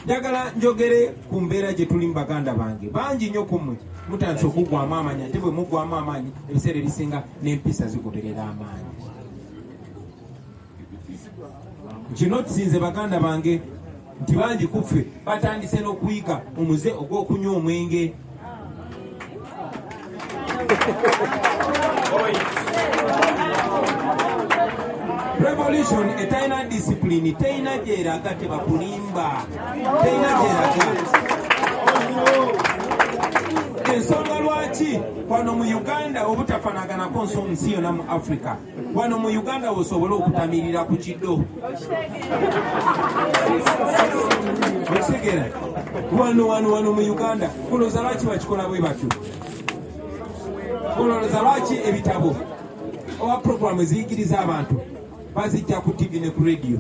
njagala njogere ku mbeera gye tuli mu baganda bange bangi nnyo ku mmwe mutandise okuggwamu amaanyi ate bwe muggwamu amaanyi ebiseera ebisinga n'empisa zigoberera amaanyi kino kisinze baganda bange nti bangi kuffe batandise n'okuyiga omuze ogw'okunywa omwenge revolution etalina disipulini terina gyeraga tebakulimba terina gyeraga ensonga lwaki wano mu uganda obutafanaganako nsi yona mu africa wano mu uganda wosobole okutamirira ku kido okitegera wano wano wano mu uganda kuloza lwaki bakikola bwe batyo kuloza lwaki ebitabo oba programu eziyigiriza abantu bazijja ku tivi ne ku rediyo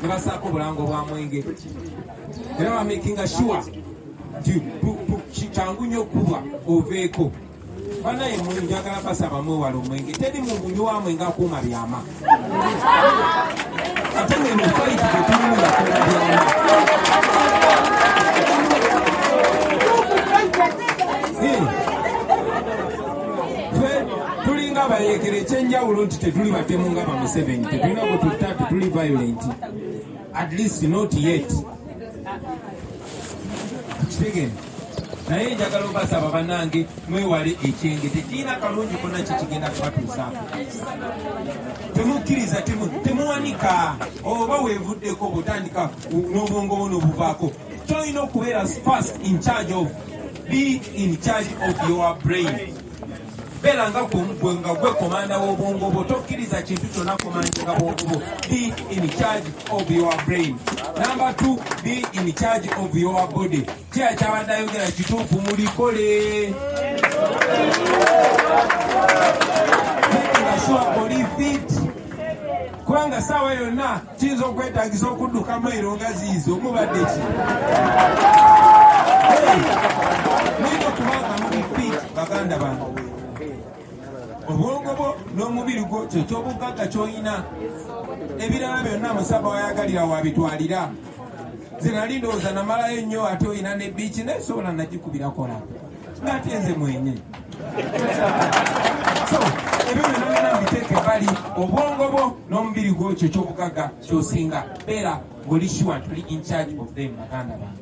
ne basaako obulango bwa mwenge era bamakinga sure kyangu nyo okubwa oveeko banaye mwe njagala basaba mwewala omwenge teri mubunywa mwe nga kuuma byama ate mwe mufaiti tetulimu yakola byama tulinga abayekera ekyenjawulo nti tetuli batemu nga bamuseveni tetulina kututta tetuli violent at least not yet kitegende naye njagala obasaba banange mwewale ekyenge tekirina kalungi kona kyekigenda kubatuusa temukkiriza temuwanika oba wevuddeko bwotandika n'obwongo bwo nobuvaako kyolina okubeera fast in charge of be in charge of your brain beera nga gwe nga gwe komanda w'obwongo bwo tokkiriza kintu kyonna komandinga bwongo bwo be in charge of your brain number t be in charge of your body kiya kyabadde ayogera kituufu mulikole kubanga saawa yonna Kiyinza okwetagisa okudduka mailo nga ziizo mubadde ki mulina okubanga muli fit baganda bange obwongo bwo n'omubiri gwo kyekyobuggagga kyolina ebirala byonna musaba wayagalira wabitwalira zenali ndowooza namalayo nnyo ate olina ne biiki naye sobola nagikubirakola ngaate nze mwenye ebyo byonna ngana mbiteeka ebbali obwongo bwo n'omubiri gwo kyo kyobugagga kyosinga beera ng'oli sure tuli in charge of them baganda bange